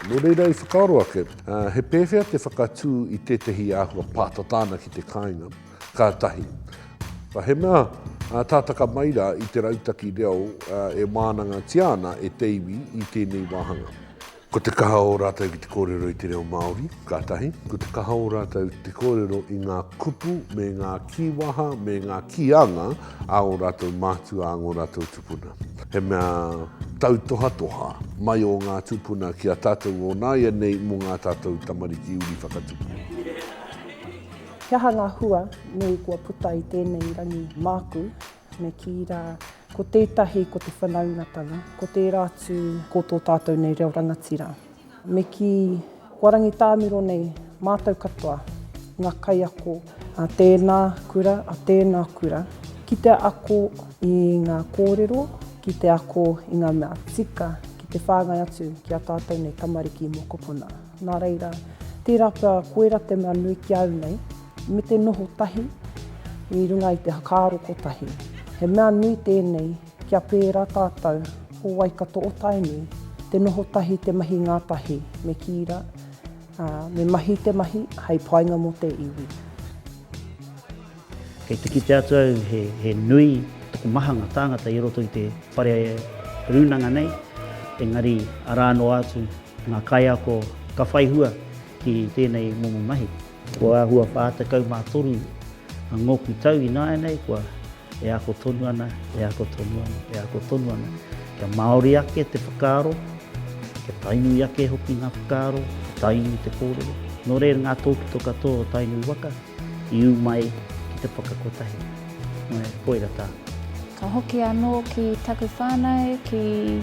Nō reira i whakaaro ake, he pēwhea te whakatū i tētehi āhua pātata ana ki te kāinga? Ka tahi. He mea tātaka mai rā i te rautaki reo e wānangatia ana e te iwi i tēnei wāhanga. Ko te kaha o rātou ki te kōrero i te reo Māori, ka tahi, ko te kaha o rātou te kōrero i ngā kupu me ngā kīwaha me ngā kīanga a ō rātou mātua, a ngō rātou tupuna. He mea tautohatoha mai o ngā tupuna ki a tātou o nāianei mō ngā tātou tamariki uri whakatupu. He aha ngā hua nui kua puta i tēnei rangi māku Me kī rā, ko tētahi ko te whanaungatanga, ko tērā atu ko tō tātou nei reo rangatira. Me kī, kua rangitāmiro nei mātou katoa, ngā kaiako a tēnā kura, a tēnā kura, ki te ako i ngā kōrero, ki te ako i ngā mea tika ki te whāngai atu ki a tātou nei tamariki mokopuna. Nā reira, tērā pea koirā te mea nui ki au nei, me te noho tahi i runga i te whakaaro kotahi. He mea nui tēnei kia pērā tātou ko Waikato o Tainui, te noho tahi te mahi ngātahi me kīra, ā, me mahi te mahi hei painga mō te iwi. Kei te kite atu au he nui taku mahanga tāngata i roto i te whare rūnanga nei, engari arā noa atu ngā kaiako ka whai hua ki tēnei momo mahi. Kua āhua 43 ngōku tau ināianei kua e ako tonu ana, e ako tonu ana, e ako tonu ana. Kia māori ake te whakaaro, kia tainui ake hoki ngā whakaaro, kia tainui te kōrero. Nō reira ngā tōpito katoa o Tainui waka. I ū mai ki te whakakotahi me Poira Tang. Ka hoki anō ki taku whānau, ki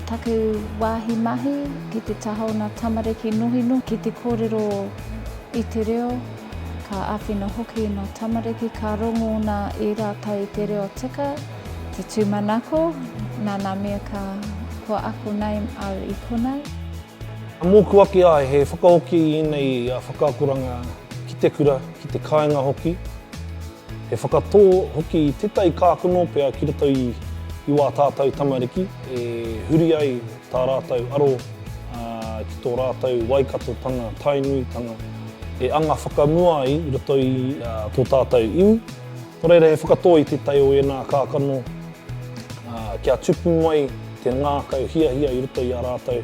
taku wāhi mahi, ki te taha o ngā tamariki nohinohi, ki te kōrero i te reo, ka āwhina hoki ngā tamariki, ka rongo nā i rātou i te reo tika, te tūmanako, nā ngā mea ka kua ako nei au i konei. Ka mōku ake ai he whakahoki i ēnei whakaakoranga ki te kura, ki te kāinga hoki. He whakatō hoki i tētahi kākano pea ki roto i wā tātou tamariki e huri ai tā rātou aro ki tō rātou Waikatotanga, Tainuitanga, e anga whakamua ai i roto i tō tātou iwi. Nō reira, he whakatō i tētahi o ēnā kākano kia tupu mai te ngākau hiahia i roto i a rātou.